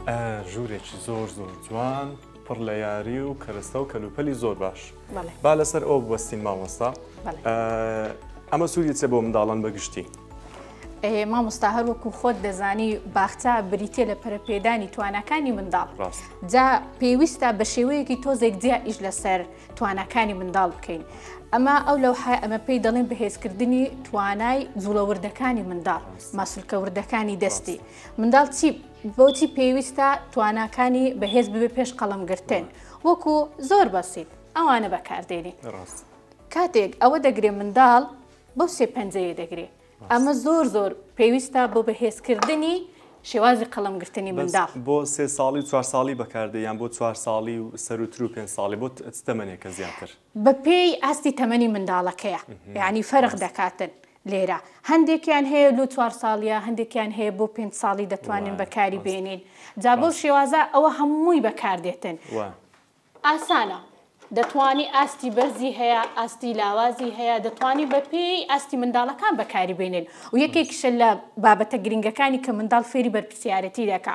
ئە ژورێکی زۆر زۆر جوان پڕ لە یاری و کەرەستە و کەلوپەلی زۆر باش با لەسەر ئەو بوەستین مامۆستا ئەمە سوودی چێ بۆ منداڵان بەگشتی مامۆستا هەر وەکو خۆت دەزانی باخچە بریتە لە پەرپێدانی توانەکانی منداڵ جا پێویستە بە شێوەیەکی تۆزێک جیا ئیش لەسەر توانەکانی منداڵ بکەین ئەمە ئەو لەو حای ئەمە پێی دەڵێن بەهێزکردنی توانای جوڵەوردەکانی منداڵ ماسولکەوردەکانی دەستی منداڵ چی بۆچی پێویستە تواناکانی بەهێز ببێ پێش قەڵەمگرتن وەکو زۆر بەسیت ئەوانە بەکاردێنی کاتێک ئەوە دەگرێ منداڵ بەو سێ پەنجەیە دەگرێ ئەمە زۆر زۆر پێویستە بۆ بەهێزکردنی شێوازی قەڵمگرتنی مندا بۆ سێ ساڵی و چوار ساڵی بەکاردەیان بۆ چوار ساڵی و سەروتر و پێ ساڵی بۆ تەمەنێکە زیاتر بە پێی ئاستی تەمەنی منداڵەکەیە یانی فەرق دەکاتن لێرە هەندێکیان هەیە لو چوار ساڵیە هەندێکیان هەیە بۆ پێنج ساڵی دەتوانین بەکاری بێنین جا بەو شێوازە ئەوە هەمووی بەکاردێتن ئاسانە دەتوانی ئاستی بەرزی هەیە ئاستی لاوازی هەیە دەتوانی بە پێی ئاستی منداڵەکان بەکاری بێنێن و یەکێکیشە لە بابەتە گرنگەکانی کە منداڵ فێری بەرپسیارەتی دەکا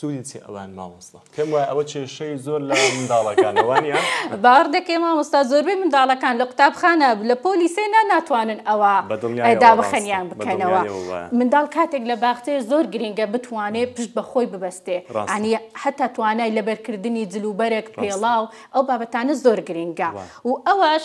سودی چیە ئەوان مامۆستا. پێم وایە ئەوە کێشەی زۆر لە منداڵەکانە وانیە؟ باوەڕ دەکەی مامۆستا زۆربەی منداڵەکان لە قوتابخانە لە پۆلی سێ نا ناتوانن ئەوە دابەخەنیان بکەنەوە منداڵ کاتێک لە باخچەیە زۆر گرینگە بتوانێ پشت بە خۆی ببەستێ ڕاستانی هەتا توانای لەبەرکردنی جلوبەرگ پێڵاو ئەو بابەتانە زۆر گرینگە و ئەوەش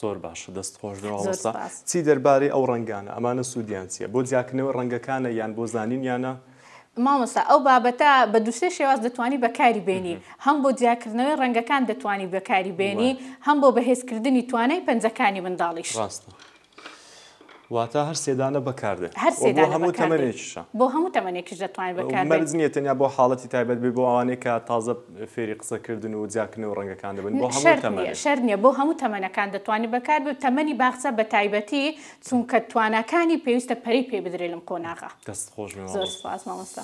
زۆر باشە دەست خۆش بێ زۆر مامۆستا سوپاس چی دەربارەی ئەو ڕەنگانە ئەمانە سوودیان چیە بۆ جیاکردنەوەی ڕەنگەکانە یان بۆ زانینیانە؟ مامۆستا ئەو بابەتە بە دوو سێ شێواز دەتوانی بەکاری بێنی هەم بۆ جیاکردنەوەی ڕەنگەکان دەتوانی بەکاری بێنی وایە هەم بۆ بەهێزکردنی توانای پەنجەکانی منداڵیش. ڕاستە. واتا هەر سێ دانە بەکاردێت هەر سێ دانە بەکاردێت بۆ هەموو تەمەنێکیشە بۆ هەموو تەمەنێکیش دەتوانێت بەکاردێت مەرج نییە تەنیا بۆ حاڵەتی تایبەت بێ بۆ ئەوانەی کە تازە فێری قسەکردن و جیاکردنی و ڕەنگەکان دەبن بۆ هەموو تەمەنێک شەرت نییە بۆ هەموو تەمەنەکان دەتوانێت بەکار بێت تەمەنی باخچە بە تایبەتی چونکە تواناکانی پێویستە پەرەی پێ بدرێت لەم قۆناغە دەست خۆش بێ زۆر سوپاس مامۆستا